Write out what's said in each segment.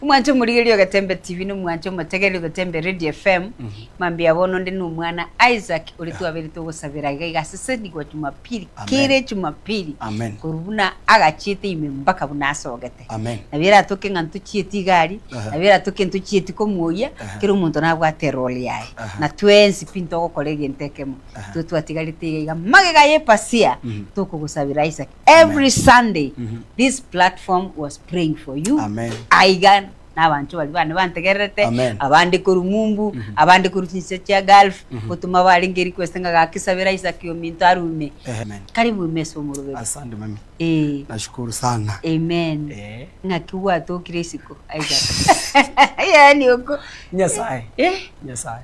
Omwancho omorigereria Ogetembe TV na omwancho omotegereria Ogetembe Radio FM, mambia bono onde na omwana Isaac oria twabeire togosabera iga iga ase sendi gwa Jumapili Amen. kere Jumapili Amen. korwa buna agachiete ime mpaka buna asogete. Amen. Nabo eratoke ng'a ntochieti igari, Aha. nabo eratoke ntochieti komoyia, Aha. kera omonto nabwate eroli yaye. Aha. Na twensi pi ntogokora egento ekemo. Aha. Intwe twatigarete iga iga magega y'epasia Mhm. tokogosabera Isaac. Every Sunday this platform was praying for you. Amen. Aiga nabanto bari bane bantegererete Amen. abande koru mumbu abande koru chinse chia Gulf gotuma barenge request nga gakisabera Isaac ominto arume. Amen. Karibu ime ase omoroberi. Asante mami. Eh. Nashukuru sana. Amen. Eh. Ng'aki gwatokire isiko Isaac. Yaani oko. Nyasaye. Eh. Nyasaye.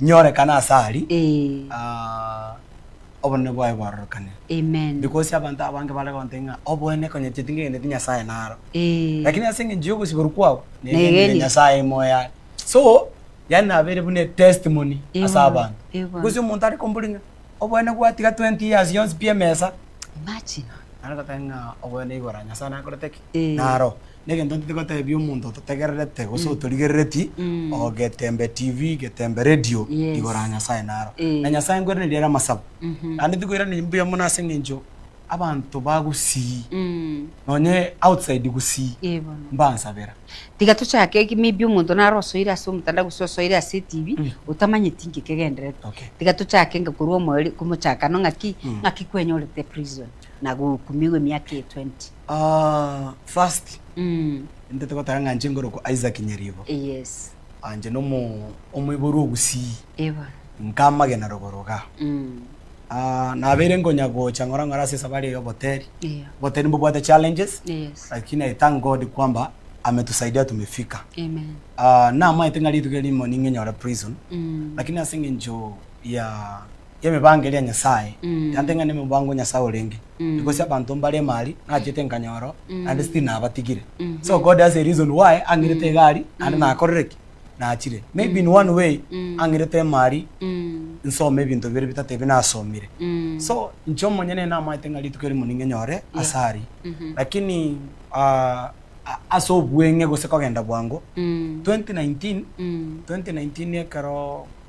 Nyorekana ase aria, aah, obonene bwaye bwarorokane. Because abanto abange bare gontebia ng'a obonene konyecheti ngegeneti Nyasaye naro, lakini ase engencho ya ogosiborwa kwabo negenire Nyasaye ime oye are. So, yaani nabeire buna etestimony ase abanto. Gose omonto are kombori ng'a obonene gwatiga twenty years yonsi pi emesa, nare ngoteba ng'a obonene igora Nyasaye nakorete ki? Naro. Negento ntete gotebia omonto ototegererete gose otorigerereti Mm. oo getembe TV getembe radio Yes. igoro ya Nyasaye naro. Eh. Na Nyasaye nkweraneri ere amasabo. Mhm. Naende tikoiraneria mbuya mono ase eng'encho abanto bagusii Mm. nonye outside gusii Eh, bono. mbansabera. Tiga tochake ki- maybe omonto nare osoire ase omotandao gose osoire ase etibi Mm. otamanyeti inki ekegendererete. Okay. Tiga tochake inga korwa omoeri- komochakano ng'aki Mm. ng'aki kwenyorete prison na gohukumiwa emiaka eye 20. First intete goteba ng'a inche nkorokwa Isaac Nyaribo. Inche nomo omoiborwa ogusii nkamagena rogoro igaa. Nabeire nkonya gocha ng'ora ng'ora ase esabari ya oboteri. Oboteri mbobwate challenges lakini I thank God kwamba ametusaidia tumefika. Namaete ng'a rituko erimo ning'e nyore prison lakini ase eng'encho ya. y'emibaango eria Nyasae, egento eng'ane momobaango o Nyasae orenge, egose abanto mbare emari nachete nkanyora oo, naende still nabatigire. So God has a reason why ang'irete egari naende nakorire ki? Naachire. Maybe in one way ang'irete emari nsome ebinto bire bitato ebi nasomire. So inche omonyene namaete ng'a rituko erimo ning'e nyore ase aria. Lakini ase obweng'e gose kogenda bwango, twenty nineteen twenty nineteen ekero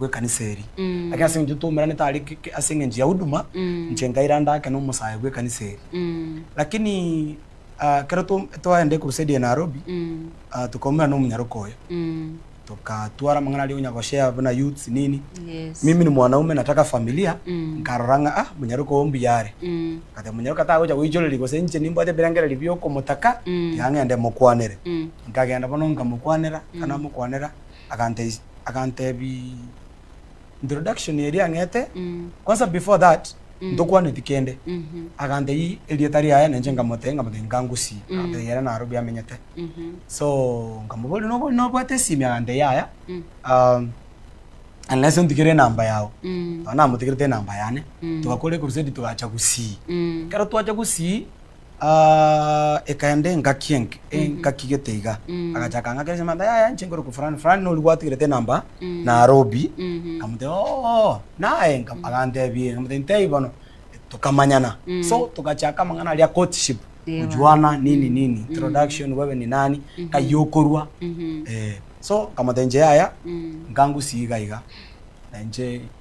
bw'ekanisa eri. Lakini ase engencho twaumeranete are ase engencho ya huduma, inche nkairanda ake n'omosae bw'ekanisa eri. Lakini ekero twaenda ecrusade ya Nairobi, tokaumera n'omonyaroka oyo, tokatwara amang'ana aria onya goshare buna youths nini, mimi ni mwanaume nataka familia, nkarora ng'a ah, omonyaroka oyo mbuya are. Nkateba omonyaroka tagocha goichoreria gose inche nimbwate ebirengererio bi'okomotaka, tiga ng'ende mokwanere. Nkagenda bono nkamokwanera, ekero namokwanera. aganteis agantebii introduction eria ang'ete kwanza before that ntokwaneti kende agantei erieta riaye na inche nkamotebia nkamotebia nkangusie agantebia yera naro biamenyete so nkamoboria nobo nobwate esimi agantebia yaya um, unless ontigere enamba yao nabo namotigerete enamba yane togakora ekurusedi togacha gusii ekero twacha gusii. Aah ekaenda engaki enke engaki gete iga agacha akang'akeresia mambia yaya inche nkorokwa fulani fulani noria gwatigerete enamba Nairobi nkamotebia ooh naye agantebia nkamotebia ntebi bono tokamanyana so togachaka amang'ana aria a courtship kujuana nini nini introduction wewe ni nani nkai okorwa eeh so nkamotebia inche yaya nkangusia iga iga na inche.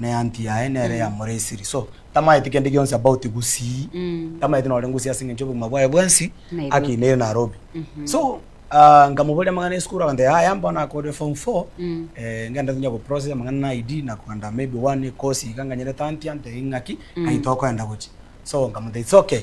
na eanty yaye nere ya moresiri so tamaeti kende gionsi about gusii tamaeti nore ngusii ase engencho obogima bwaye bwensi akinire Narobi so nkamoboria amang'ana esukuru akantebi yaya mbono akorire form four ngende tonya go process amang'ana na ID na kogenda may be one course iga nganyerete anty antebi ng'aki ng'ai tokoenda gochia so nkamotebi it's okay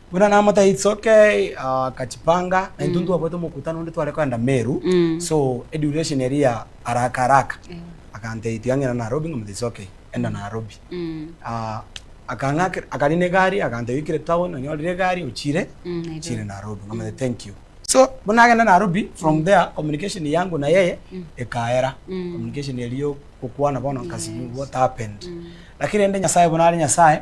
Buna namotebirie it's okay akachipanga na intwe ntwabuete omokutano onde tware kogenda Meru so eduration eria ya haraka haraka akantebi twang'ina Nairobi nkamotebi it's okay enda Nairobi akang'akera akarina egari akantebi oikire town onyorire egari ochire ochire Nairobi nkamotebi thank you so buna nagenda Nairobi from there communication yangu na yeye ekaera communication eria ya ogokwana bono nkasibia what happened lakini rende Nyasaye buna are Nyasaye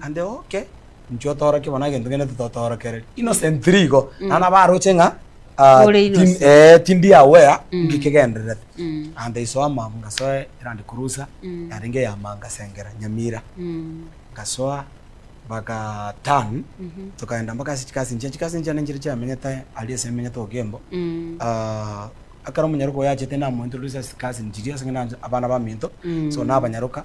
Ande oke, inche otorokie bono egento kende tototoorokereri. Innocently igo, naende nabo aroche ng'a ah, Ore tim- innocent. eh, tindi aware ng'aki kegendererete. Ande iso amaabwo ngasoa Land Cruiser yarenge eyamanga ngasengera Nyamira. Ngasoa baka turn tokaenda mpaka ase chikazi nchiange. Chikazi nchiange nchiria chiamenyete aria ase emenyete Okembo. Ah, ekero omonyaroka oyo achete namointroduce ase chikazi nchiria ase ng'a nabana baminto so nabanyaroka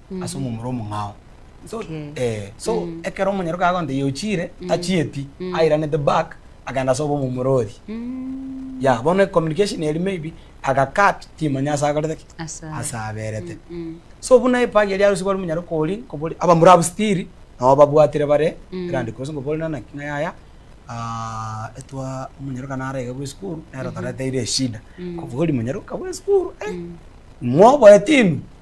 ase omomura omong'ao. So Okay. eh, so ekero omonyaroke agonta iye ochire achieti airanete back agenda ase obo omomura oria Mm. ya bono communication eri maybe aga cut timanya ase akorete ki Asa. ase aberete Mm. so buna epagi eria arusigwe ari omonyaroke oria nkobori abamura abwo still nabo babwatire bare Mm. erande kosi nkobori nana naki ng'a yaya ah, etwa omonyaroka narege bwa esukuru nere otoreteire eshida Mm. kobori monyaroka bwa esukuru eh, mwoboe timi.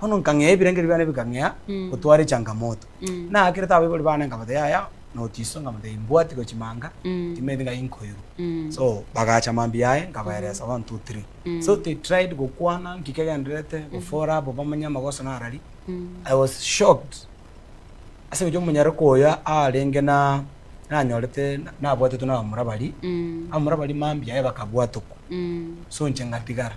Bono nkang'ea ebirengerio biane bikang'ea gotwara echangamoto. Naakirete abaibori baane nkabata yaya notiso nkamata imbwati gochi manga timanyeti ngai nkoirwa. So bagacha mambia yaye nkabaeresa one two three. So they tried gokwana nki kegendererete gofora abo bamanye amagoso narari. I was shocked ase gochia omonyaroka oyo arenge na nanyorete nabwatetwe nabamura baria. Abamura baria mambia yaye bakabwatokwa so inche ngatigara.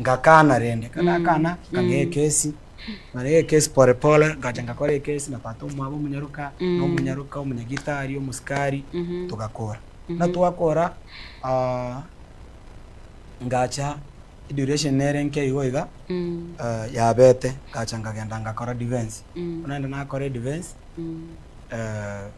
Ngakana rende, kagakana nkagea ekesi, nagea ekesi pore pore, ngacha ngakora ekesi na tata omwabo omonyaroka, na omonyaroka, omonyagitari, omosikari, togakora. Buna twakora, ngacha eduration nere enke igo iga, yabete, ngacha ngagenda ngakora defence. Buna naende nakora edefence.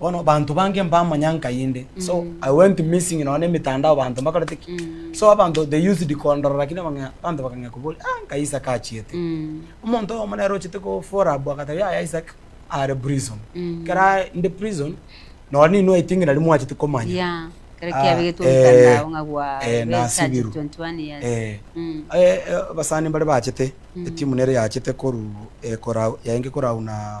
bono abanto bange mbamanya nkai inde so i went missing nonye na emetandao abanto mbakorete ki so abanto they used kondorora ki nabang'ea abanto bakang'ea koboria ah nkai isaac achiete omonto oyomo nere ochete kofora abwo agateba yaya isaac are prison ekero are inde prison nonye ninwe i think nari mwachete komanya Yeah. Kero Ah, kiabegetwe eh, omotandao ng'a gwa eh, be nasibirwe. charged 21 years. Eh, Mm. eh, eh, abasani mbare bachete etimu nere yachete koru eh, korau yaenge korau na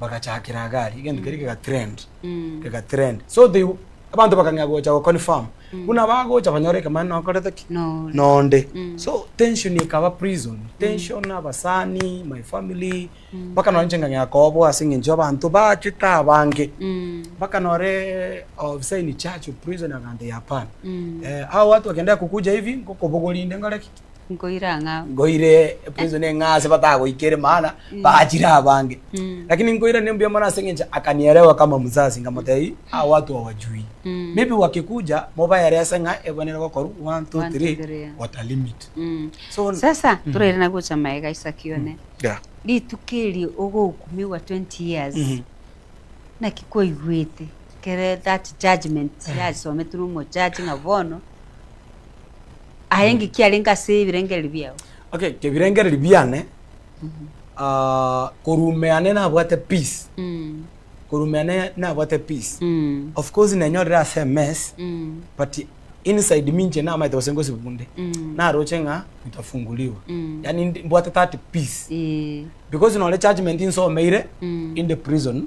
bagachakera agari egento keria kega trend Mm. kega trend so they abanto bakang'ea gocha go confirm buna bagocha banyore ekemanero nakorete ki Nore. nonde Mm. so tension ekaba prison tension abasani my family mpaka nonye inche nkang'ea kobwa ase eng'encho abanto bachete abange Mm. mpaka nore ofisa in charge of prison akantebia hapana Mm. eh, hao watu wakiendelea kukuja hivi ngokobogoria inde nkore ki Nkoira ng'a. Nkoire prison eh, ng'a ase batagoikere maana baachire abange. Lakini nkoira ne mbuya mono ase engencho akanielewa kama mzazi nkamotebia hawa watu hawajui. Maybe wakikuja mobaere ase ng'a ebo nere gokorwa one, two, three what a limit. So. Sasa toraire na gocha magega Isaki one. Yeah. Rituko eri ogohukumiwa twenty years naki kwaigwete kere that judgement yasometwe na omojaji ng'a bono. Aye enki kiarenge ase ebirengererio biao? Okay, ebirengererio biane ah, korume yane nabwate peace Mm. korume yane nabwate peace Mm. of course nenyorire ase emess Mm. but inside me inche namaete gose ngosibwa bunde Mm. naroche ng'a kutafunguliwa Mm. yani ndi- mbwate that peace Eh. because nore judgment insomeire Mm. in the prison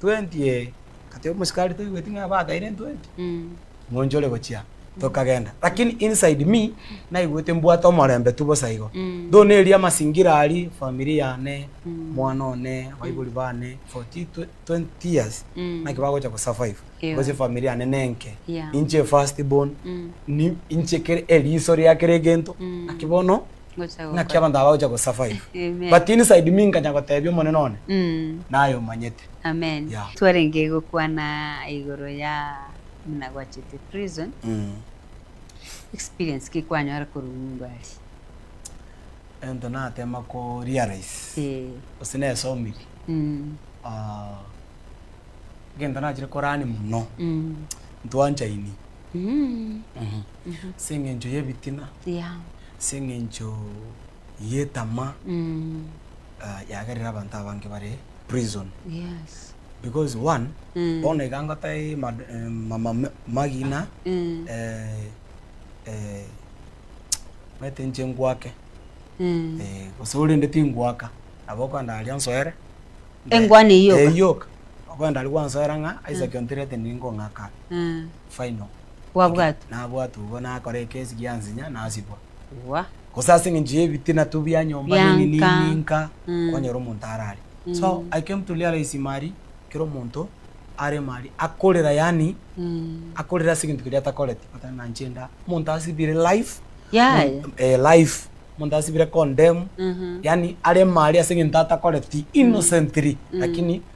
Twenty ee. Ngateba omosikari toigweti ng'a bataire twenty? Ng'oncho ore gochia. Tokagenda. Lakini inside me, naigwete mbwate omorembe tu bosa igo. Though neri amasingira aria, efamiri yane, omwana one, abaibori bane, for thi twe, twenty years, naki bagocha gosurvive? Because efamiri yane nenke. Inche efirst born, ni, inche kere eriiso ria kera egento, naki bono, Naki abanto aba bagocha gosa five. Amen. But inside me nkanya gotebia Omonene one naye omanyete. Amen. Yeah. Twarenge gokwana igoro ya buna gwachete prison, experience ki kwanyora korwa ng'umba aria? Egento natema ko realize gose nesomirie, egento nachire korani mono ntwanchaini. as'engencho y'ebitina, as'engencho y'etama, yagerire abanto abange bare prison. Because one, bono iga ngotebie magina omanyete inche ngwake, gose orende tingwaka, nabo okwenda aria nsoere, engwani eyi yoka, okwenda aria gwansoera ng'a Isaac ontebiete ningong'aka aa. final. Gwabwatwa. Nabwatwa obo nakora ekesi giansinya nasibwa. Wah. Gose ase eng'encho y'ebitina tu bia nyomba Bia nini nka. nini nka Mm. kwanyora omonto arare. So Mm. I came to realize mari kera omonto aremo aria akorera yaani Mm. akorera ase egento keria atakoreti but na inche nda omonto asibire life Yaya. mon- eh, life omonto asibire condemn Mhm. yaani aremo aria ase egento atakoreti innocently lakini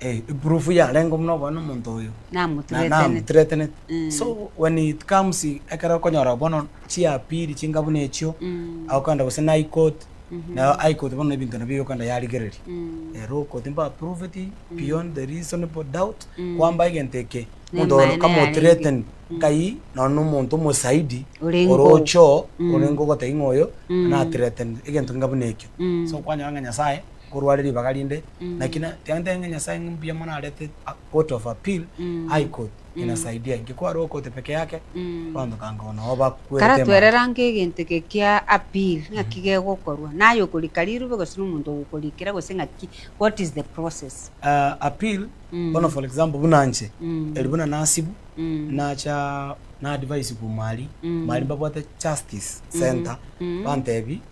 Eh, ipurufu yarenge buna obone omonto oyo. Namoturetenete. Namoturetenete. Mm. So when it comes ekero okonyora bono chiapiri chinga buna echio, Mm. agokenda gose na high court, Mhm. nayo high court bono ebinto nabio egokenda yarigereria. Mm. Eh, low court mba approved beyond the reasonable doubt, Mm. kwamba egento eke, Ne omonto oyo maene kamothreaten yarenge. Mm. nkai nonye na omonto omosaidi Orenge ore oo. ocho Mm. orenge ogoteba ng'a oyo Mm. nathreatened, egento keinga buna ekio. Mm. So kwanyora ng'a Nyasaye. korwa are ribaga rinde, naki na- tiga ntebe ng'a Nyasae ng'a mbuya mono narete a court of appeal, high court, inasaidia inki? Ko aroo court peke yake, abanto tango bono nabo bakwerete Kara emanwa. twerera ng'a egento eke kia appeal ng'aki gegokorwa, naye okorika rirube gose na omonto ogokorikera gose ng'aki, what is the process? Ah, appeal, bono for example buna nche, eri buna nasibu, nacha na advice korwa mwaria, mwaria mbabwate justice centre, bantebi,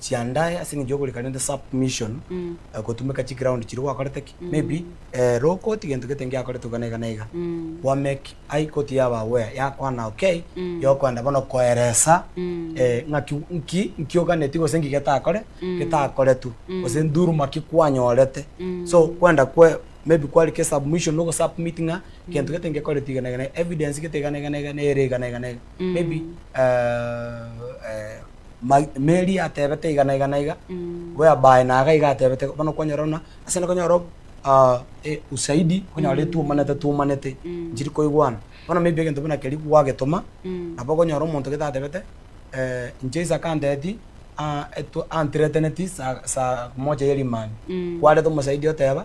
chiandae aseng'encho yogorika rende submission gotumeka chiground chiria gwakorete ki maybe rokoti gento gete ngiakoretwe iga na iga na iga gwa make ai koti yaba aware yakwana okay yokoenda bono koeresa ng'aki nki nkioganeti gose nki getakore getakoretwe gose nduruma ki kwanyorete so kwenda kwe maybe kwarika esubmission ogo submit ng'a gento gete ngekoreti iga na iga na iga evidence gete iga na iga na iga nere iga na iga na iga maybe ma Mary atebete iga na iga na iga, Mm. whereby naye iga atebete bono kwanyora buna ase konyora ob- ah, eh, usaidi okonyora etwomanete twomanete Mm. nchiri koigwana bono maybe egento buna keria gwagetoma Mm. nabo okonyora omonto gete atebete eh, inche Isaac antebeti ah, etwa- anthreateneti sa- sa moja ya rimani Mm. kwareta omosaidi oteba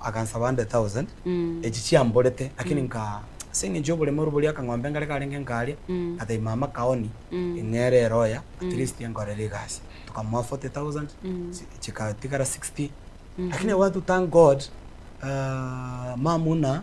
agansaba 100,000 echi chiamborete, lakini nka ase engencho y'oboremeru boria akang'ombe ngare karenge nkaria, ngatebia mama kaoni eng'eere ero oya at least enkorere egasi, tokamoa 40,000 chikatigara 60, lakini I want to thank God mama buna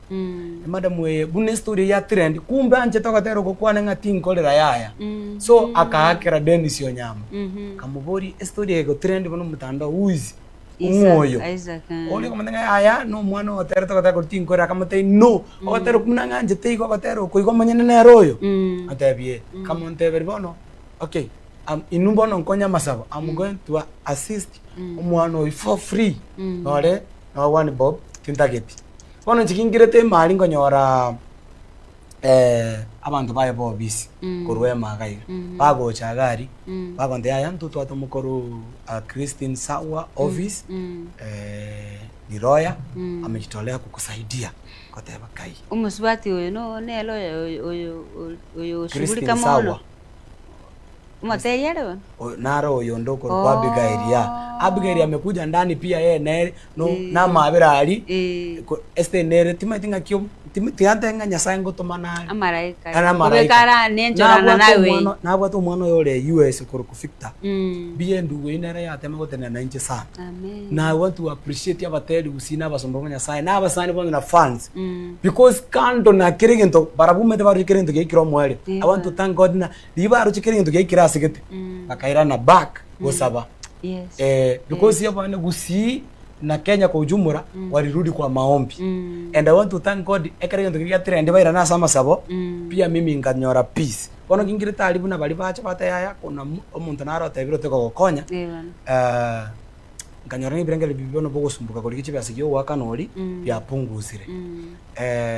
emadam eye buna estory ya trend kumbe anchete ogotera ogokwana ng'a tinkorera yaya so akaakera Dennis Onyango akamoboria estory eye egotrend buna omotandao who is ng'o oyo oria okamotebia ng'a yaya nomwana ogoterete ogotera kore tinkorera akamotebia no ogotera okwo buna ng'anchete igo ogotera oko igo omonyene nere oyo akamotebia ee akamonteberia bono okay inwe bono nkonye amasabo am going to assist omwana oyo for free nore. Nobwani Bob, tintageti. Bono inche kingirete ime aria nkonyora abanto baye bobisi korwa ime iga iga, bagocha iga aria, bakonta yaya ntotwate omokoruu Christine Sawa office Riroya ame chitore agokusaidia, nkoteba kai. Omosubati oyo nere oyo oyo oyo oshughulika mono. Naro oyonde okorokwa Abigaili aa. Abigaili amekuja ndani pia yeye nere no namabera aria Esteri nere timaeti ng'aki obo tiantere ng'a Nyasaye ngotoma nare Amaraika aria. Amaraika Kobekara nenchorana Nabwate naye omwana oyio. nabwate omwana oyo ore USA okorokwa Victor mbuya endugu eyio nere yatema gotenena nainche sana Amen. na I want to appreciate abateri gusii na abasomba ba Nyasaye na abasani bono na fans. Because kando na kera egento barabumete baroche kera egento giaikire omoerio. I want to thank God ng'a riria baroche kera egento giaikire ase gete bakairana back gosaba. Yes. Eh, because Yes. abana Gusii na Kenya kwa ujumla walirudi kwa maombi. And I want to thank God ekero egento keria giatrend bairana ase amasabo pia mimi nkanyora peace. Bono ngingire tari buna baria bacha bateba yaya kuna omonto naro otebire otekogokonya Ewana. eh, nkanyora ng'a ebirengererio bibio bono bogosumboka korigia chibe ase gi'ogoakana oria biapungusire.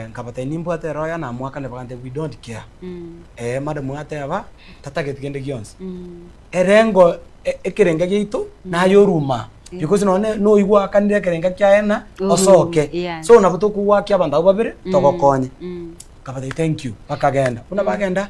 Nkabatebia nimbwate eroho yane amoakane bakantebia we don't care. Ee madam gateba tatageti kende gionsi. Erengo ekerenga giaito naye oruma because nonye noyo gwakanire ekerenga kiaye ng'a osoke. So nabo tokogoakia abanto abwo babere togokonye. Nkabatebia thank you bakagenda. Buna bagenda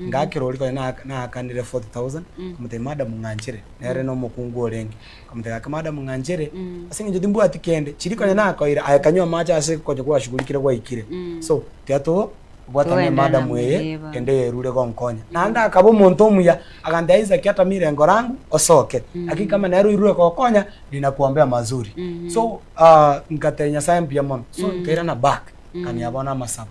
Ngakera oria konya na- naakanire 40,000, nkamotebia, Madam, ng'anchere. Nere nomokungu orenge. Nkamotebia, Gaki madam ng'anchere, ase eng'encho timbwati kende, chiria konya nakoire, aye kanywa amache ase gocha kwashugulikire gwaikire. So, tiga to- bwatana na Toenderana madam eye, moriba. kende eyerure gonkonya. Naende akaba omonto omuya, agantebia, Isaac, ata mirengo rangu, osoke. Gaki kama nere oirure gokonya, ninakuombea mazuri. So, ah, nkatebia Nyasaye mbuya mono. So, nkairana back, nkania bono amasabo.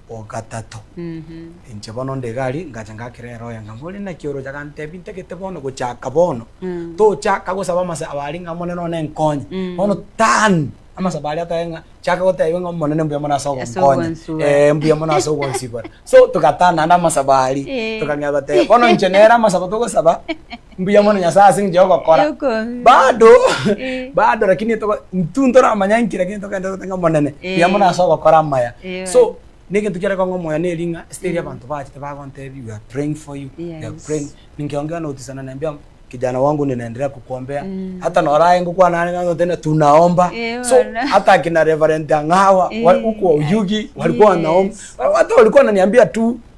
o gatato. Inche bono onde egari ngacha ngakera eroya ng'a, More naki oroche? Agantebia, Ntagete bono gochaka bono tochaka gosaba amasabo aria ng'a Omonene one nkonye. Bono turn amasabo aria atae ng'a chaka gotebia ng'a Omonene mbuya mono ase ogonkonya. Ee mbuya mono ase ogonsibora. So toga turn naende amasabo aria tokang'ea goteba. Bono inche nere amasabo togosaba. Mbuya mono Nyasae ase engencho y'ogokora. Eyokobi. Bado, Eh. bado lakini etoko- intwe ntoramanya nki lakini togenderera tote ng'a Omonene, Eh. mbuya mono ase ogokora amaya. Eh, So, bwana. negento kiare kong'a omoyo neri ng'a esiteri abanto bachete bagontebia we are praying for you, we are Yes. praying. Ninki ongea notisana nembia kijana wangu ninaendelea kukuombea. Mm. Hata noraye ngokwana nare ng'a tena tunaomba. Eh, So, bwana. hata akina Reverend Ang'awa, wa- Eh. huko Oyugi, walikuwa wanaomba. Yes. Hata walikuwa wananiambia tu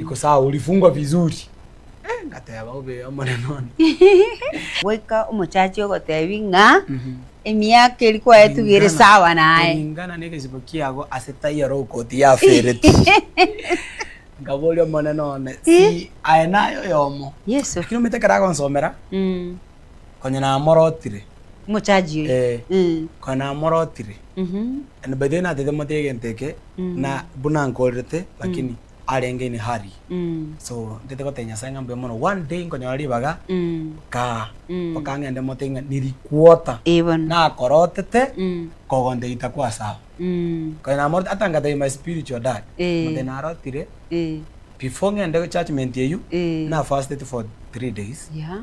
Iko sawa, ulifungwa vizuri. Eh, ngateba, Obe Omonene one. Goika omochachi ogotebi ng'a emiaka eri kwaetuga ere sawa naye. Kuringana negesibo kiago ase taiyo okoti yafereti. Nkaboria, Omonene one, si aye naye oyomo? Yeso. Lakini omanyete ekero agonsomera. Konya namorotire. Mochaji oyo. Eh. Konya namorotire. And by the way natete motige egento eke, na buna nkorerete, lakini arenge in a hurry. So ntete gotebia Nyasae ng'a mbuya mono. One day nkonyora ribaga, nkaa, mpaka ng'ende motige ng'a ni requota. Eh bono. Nakorotete, kogonte gita kwa sawa. Konya namoroti, ata ngatebia my spiritual dad, motige narotire, before ng'ende churchment eyio, nafastete for three days. Yeah.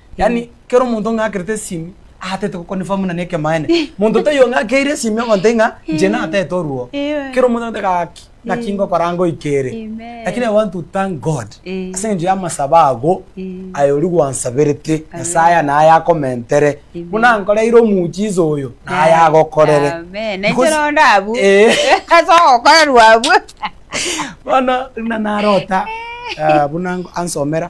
Yaani kera omonto ong'akerete esimi aatete go confirm buna nekemaene. Monto toiyo ong'akeire esimi ogontei ng'a inche natete oruo. Kera omonto agote gaki naki ngokora ngoika ere. Lakini I want to thank God ase engencho y'amasabo ago aye oria gwansaberete Nyasaye aya naye akomentere. Buna ankoreire omuujiza oyo naye agokorere. Because eh. Bono buna narota buna ansomera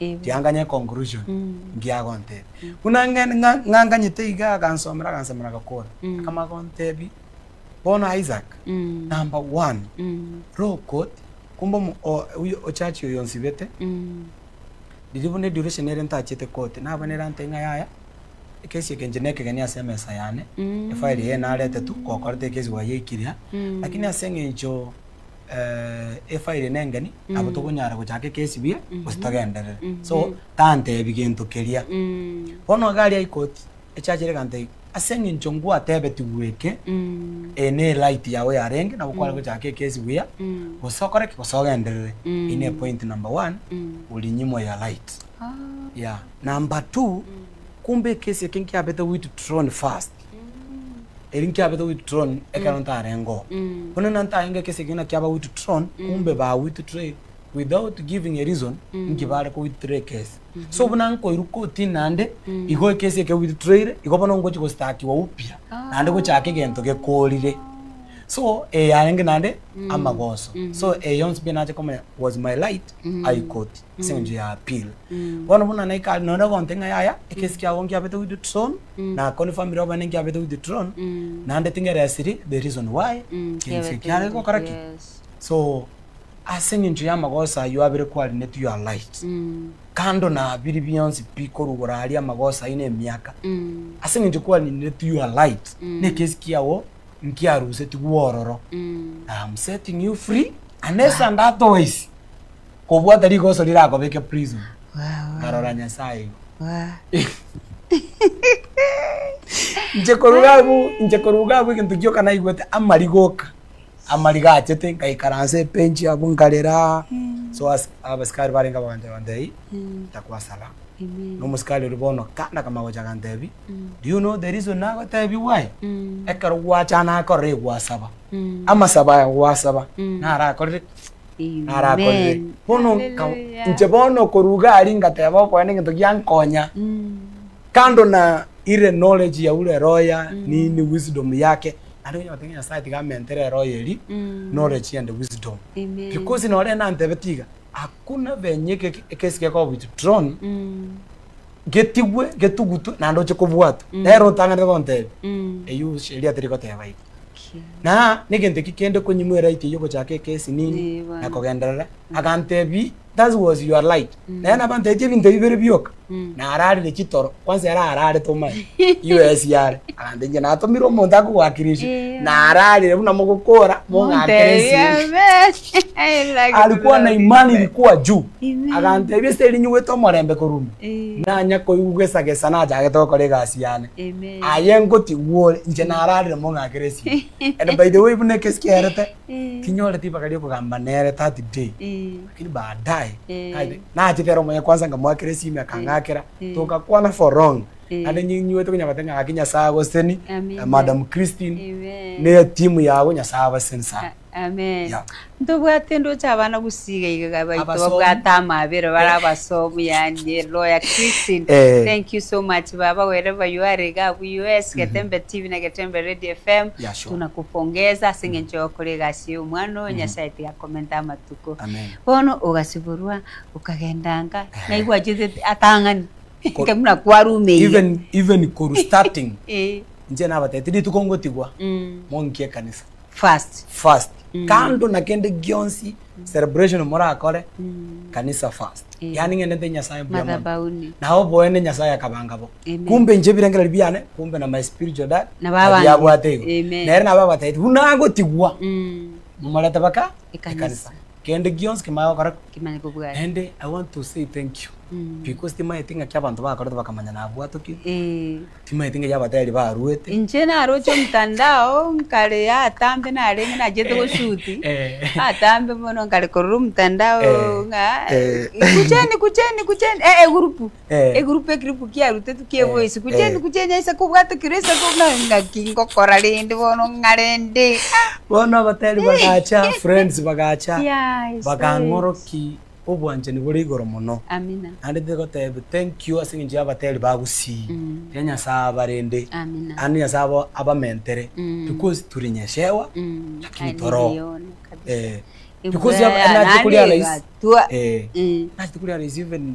Ebi. Tianganya econclusion ngiya agontebia. Buna nge nga ng'anganyete igaa agansomera agansemera agakora. Akamanya gontebia bono Isaac number one low court kumbe omo o oyo ochachi oyo onsibete riria buna eduration ere ntachiete koti nabo nere antebia ng'a yaya ekesi eke inche na ekegeni ase emesa yane efile eye naretetwe gokorete ekesi gwayeikire aa lakini ase eng'encho. eh, efa ere nengeni nabo tokonyara gochaka ekesibie gose togenderere so tantebi gento keria bono iga aria ikoti echachere egantebi ase eng'encho ngwatebetigwe eke eye ne right yago yarenge nabo kware gochaka ekesi buya gose okore ki gose ogenderere eyio ne point number one orinyimwa your right yeah number two kumbe ekesi eke nkiabete withdrawn first Eri nkiabete withdrawn ekero ntarengoo. Buna nantaye ngeke ase ekegina kiaba withdrawn, kumbe ba withdrew without giving a reason inki bare ko withdraw ekesi. So buna nkoirwa kotini naende, igo ekesi eke withdrawire, igo bono ngochi go stakiwa upya naende gochaka egento gekorire. So eye arenge naende amagoso. So eye yonsi pi nache komanya was my right high court. ase engencho ya appeal. Bono buna naika are nonye ogonte ng'a yaya, ekesi kiago nkiabete withdrawn, na confirmire obana nkiabete withdrawn, naende tingeresiri the reason why egencho eke kiare gokora ki. So, ase engencho y'amagoso ayio abere kwarinetwe you are right. Kando na biri bionsi pi korwa igoro aria amagoso ayio na emiaka, ase engencho kwarineretwe you are right, na ekesi kiago nkiarusetigwe ororo, I am setting you free unless and otherwise. Kobwata rigoso rirakobeke prison. Nkarora Nyasaye igo. Inche koruga abwo, inche koruga abwo egento gioka naigwete amarigo oka. Amarigo achete ngaikaransa ebench abwo nkarera. So as- abasikari barenge bagancha bantebi takwasara. Na omosikari oria bono kanda kama gocha agantebi, do you know the reason nagotebigwa aye? Ekero gwachana korora egwasaba, amasabo aya gwasaba narakorire narakorire. Bono nka, inche bono okorwa iga aria ngateba okoenda egento giankonya, kando na ire knowledge ya ure roho ya nini wisdom yake, naende onye ogoteba ng'a Nyasaye tiga amentere eroho eria knowledge and wisdom. Because noro ere nantebetie iga, hakuna venye eke ekesi gekoba withdrawn, getigwe, getugutwe naende oche kobwatwa. Nere otang'anete gontebia, eyio sheria terigoteba igo. na negento eki kende konyimwa eraiti eyio gochaka ekesinini na kogenderera, agantebi that was your light naye nabo antebiche ebinto ebi bire bioka na ararire chitoro kwansa ere ararete omanyete US are agantebi inche natomire omonto akogoakera esio na ararire buna mogokora mong'akere esio. Alikwa na imani rikwa juu, aganteebia, Ase erinyugwete omorembe koruma, nanya koigwa gesagesa nachagete gokora egasi yane. Aye ngoti, Igwa ore, inche nararire mong'akere esimo. And by the way, buna ekesi kiaerete, tinyoreti ribaga ri'okogamba nere that day, lakini baadaye, naye nachete ere omoyia kwanza ngamoakera esimo akang'akera, togakwana for long. Naende ninyuete konya goteba ng'a gaki Nyasaye agoseseni, Madam Christine, ne etimu yago Nyasaye abaseseni sana. Amen. Yeah. Ntobwate ndoche abana gusiga iga baito Abasomi. babwate amabera bara abasomi yani lawyer Christine. Eh. Thank you so much baba wherever you are iga abu US Getembe TV na Getembe Radio FM. Yeah, sure. Tunakupongeza ase ng'encho yokora egasi ya omwana oyo Nyasaye tiga akomente amatuko. Amen. Bono ogasiborwa okagendanga naigwa achete atang'ani. Ko- Kemuna kwarumeire. Even even koru starting Eh. nche nabatete rituko ngotigwa Mm. monki ekanisa. First. first kando na kende gionsi celebration morakore kanisa first Eh. yaani ng'ende nte nyasaye buya mono Madhabauni. naye oboene nyasaye akabanga bo Amen. kumbe inche ebirengererio biane kumbe na my spiritual dad Nabo abangete. abiabwate igo Amen. nere nabo abatagete buna agotigwa Mm. momorete baka Ekanisa. ekanisa kende gionsi kimaya gokora Kimanye kobwati. and i want to say thank you Mm. because timaeti ng'aki abanto bakorete bakamanya nabwatokire Eh. Timanyeti ngaki abatari baruete. Inche naroche omtandao nkare atambe narenge nachete goshuti atambe bono nkare korora omtandao ng'a kucheni kucheni kucheni eh egurupu egurupu ekiripu kiarutetwe kia eboysi kucheni kucheni aise kobwate kiro aise ng'aki ngokora rende bono ng'a rende ah. Bono abatari bagacha friends bagacha bakang'oroki. Obwanchani bore igoro mono. Amina. Naende tigotebia thank you ase engencho y'abateri ba gusii. Tiga Nyasae abarende. Amina. Naende Nyasae abo abamentere. Because turi nyeshewa lakini toro. Aye nigo kabisa. Eeh. Because Ebuya ya nandi egatwa. Eeh. Nasi tikuria rahisi even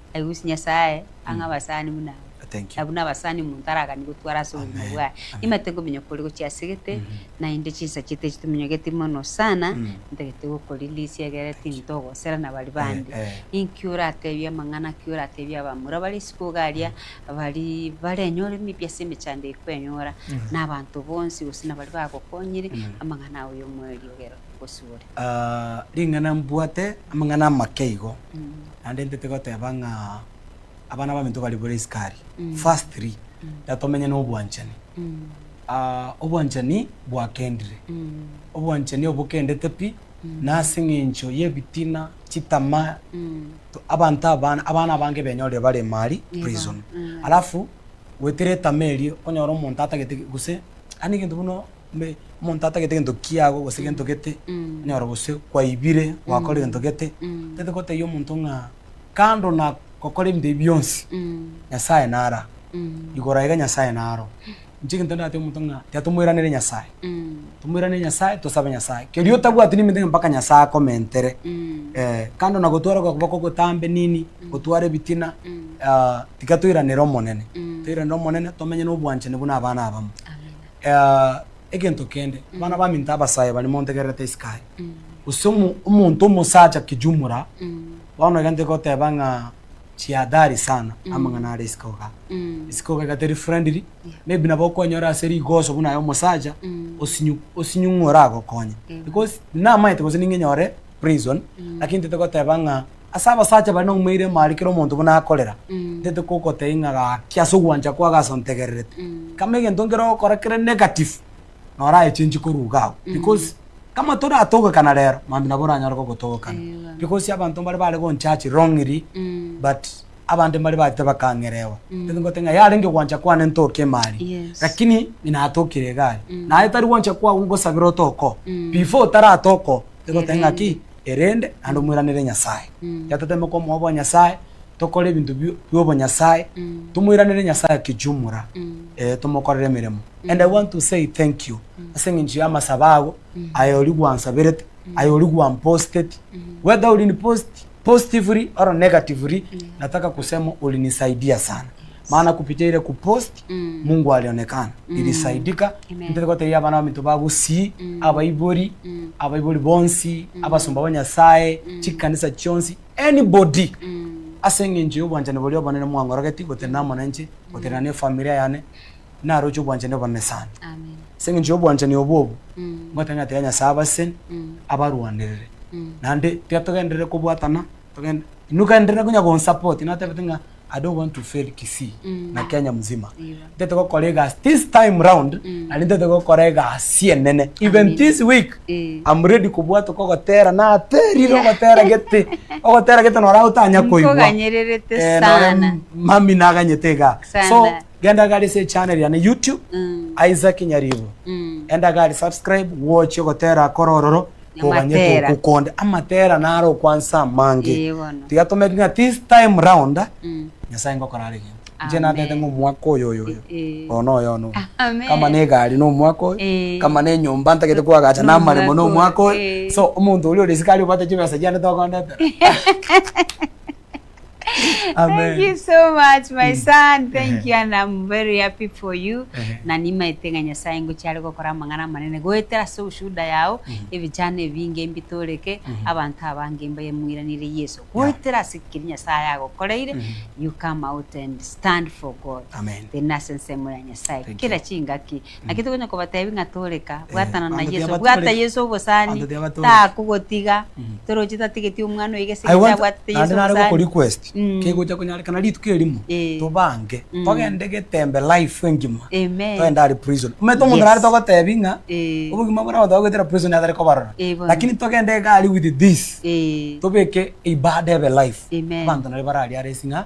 I wish Nyasaye ang'e abasani buna aba. Thank you. Abwo nabasani omonto aragani gotwara ase obogima Amen. bwaye. Amen. Nimanyete ngominyoka ore gochia ase egete, Mhm. naende chinsa chiaito echi tominyogeti mono sana, Mm. ntagete gokorelease egere tinto ogosera na bari bande. Eh, eh. Inki oratebie amang'ana ki oratebie abamura bare isiko iga aria, bari barenyore maybe ase emechando eye kwenyora, Mhm. na abanto bonsi gose na bari bagokonyire, Mm. amang'ana ao y'omoerio ogere gosibore. Ah, ring'ana mbwate amang'ana amake igo. Mm. Naende intete goteba ng'a abana baminto bari bore iskari. Firstly, natomenye nobwanchani. Obwanchani bwakendire. Obwanchani obo bokendete pi nase eng'encho y'ebitina, chitamaa, abanto abana, abana abange benyorire bare ime aria prison. Alafu goetera etamaa erio, okonyora omonto atagete gose, yaani egento buna. Mbe, omonto atagete gento kiago gose gento gete, onyora gose kwaibire, gwakora egento gete, tete gotebia omonto ng'a kando na gokora ebinto ebi bionsi, Nyasaye nara. Igoro aiga Nyasaye naro. Inche egento ndatebia omonto ng'a tiga tomoiranerie Nyasaye. Tomoiranerie Nyasaye, tosabe Nyasaye. Kerio otabwati neminto eke mpaka Nyasaye akomentere. Ee, kando na gotwara okoboko gotambe nini, gotwara ebitina, tiga toiranere Omonene. Toiranere Omonene, tomenye na obwanchani buna abana abamo. Egento kende, abana baminto abasae baria montegererete isiko aya, gose omonto omosacha kijumura, bono iga ntigoteba ng'a jiadhari sana amang'ana are isiko iga. Isiko iga teri friendly, maybe nabo okonyora ase rigoso buna aye omosacha osinyu osinyung'u oragokonye. Because namaete gose ning'enyore prison, lakini ntigoteba ng'a. Ase abasacha bare nomoerio emari kera omonto buna akorera, ntete kogotebia ng'a gaki ase ogwancha kwao gasi ontegererete. Kama egento nkere ogokora kere negative, na ora echenchi korwa iga abwo. Because kama toratogokana rero, mambia nabo oranyare gogotogokana. Because abanto mbare bare gonchachi wrongly, but abande mbare bagete bakang'erewa. Ntete ngote ng'a yarenge ogwancha kwane ntoke emari, lakini inatokire iga aria. Naye tari gwancha kwao ngosabera otoke oo. Before otaratoke oo, ntete goteba ng'a ki, erende naende omoiranerie Nyasae. Yatoteeme komoa obwanyasae, tokore ebinto bi- bi'obonyasae, tomoiranerie Nyasae kijumura, eh, tomokorere emeremo. And I want to say thank you ase eng'encho y'amasabo ago, aye oria gwansaberete, aye oria gwamposteti, whether orinipost positively or negatively, nataka kusema ulinisaidia sana. Maana kupitia ile kupost Mungu alionekana, ilisaidika. Intete goteebia abana baminto ba Gusii, abaibori, abaibori bonsi, abasomba ba Nyasae, chikanisa chionsi, anybody ase engencho y'obwanchani boria obonene mwang'orogeti gotenena amo nenche, gotenena nefamilia yane, naroche obwanchani obonene sana. Ase engencho y'obwanchani obwo obo, ngotenena tiga Nyasae abaseni, abarwanerere. Naende tiga togenderere kobwatana. Togende. Inwe kare ndire konya gonsupport natebete ng'a I don't want to fail Kisii Mm. na Kenya mzima. Igo. Ntete gokora egasi this time round Mm. nari ntete gokora egasi enene. Even Amina. this week Eh. I'm ready kobwatoka ogotera naterire Yeah. ogotera gete. Ogotera gete nora otanya koigwa. Nkoganyererete Eh, nore sana. mami naganyete iga. So Sana. Genda gari ase echannel yane YouTube, Isaac Nyaribo. Enda gari subscribe, gwochia ogotera akore ororo, toganye Amatera. togokonde. Amatera naro okwansa amange. Ee bono. Tiga tomerire ng'a this time round, Nyasae ngokora are egento. Inche natete ng'a omwaka oyo oyo oyo, Ee. oyo noyo one oyo. Amen. Kama ne egari na omwaka oyo, Ee. kama ne enyomba ntagete koagacha na amaremo na omwaka oyo. Ee. So, omonto oria ore isiko aria obwate chibesa chiane togondetera. Thank you so much my mm. son. Thank you and I'm very happy for you. Na nimaete ng'a Nyasaye ngochi are gokora amang'ana manene goetera ase obushuda yao mm-hmm. ebichano ebinge mbitoreke mm-hmm. abanto abange mbaye muiranire Yesu. Goetera ase kiri Nyasaye agokoreire mm-hmm. you come out and stand for God. Amen. Tena sense mo ya Nyasaye. Kira chingaki Naki tokonya kobatebi ng'a toreka, bwatana na Yeso, bwata Yeso obosani, takogotiga, toroche tatigeti omwana oiga ase egencho abwatete Yeso obosani. Kegocha konyarekana rituko erimo tobange togende getembe life engima togende are prison. Omanyete omonto nare togotebi ng'a obogima bore abanto bagoetera prison nigo atare kobarora lakini togende iga aria with this tobeke ibada ebe life abanto nario bararia are esing'a.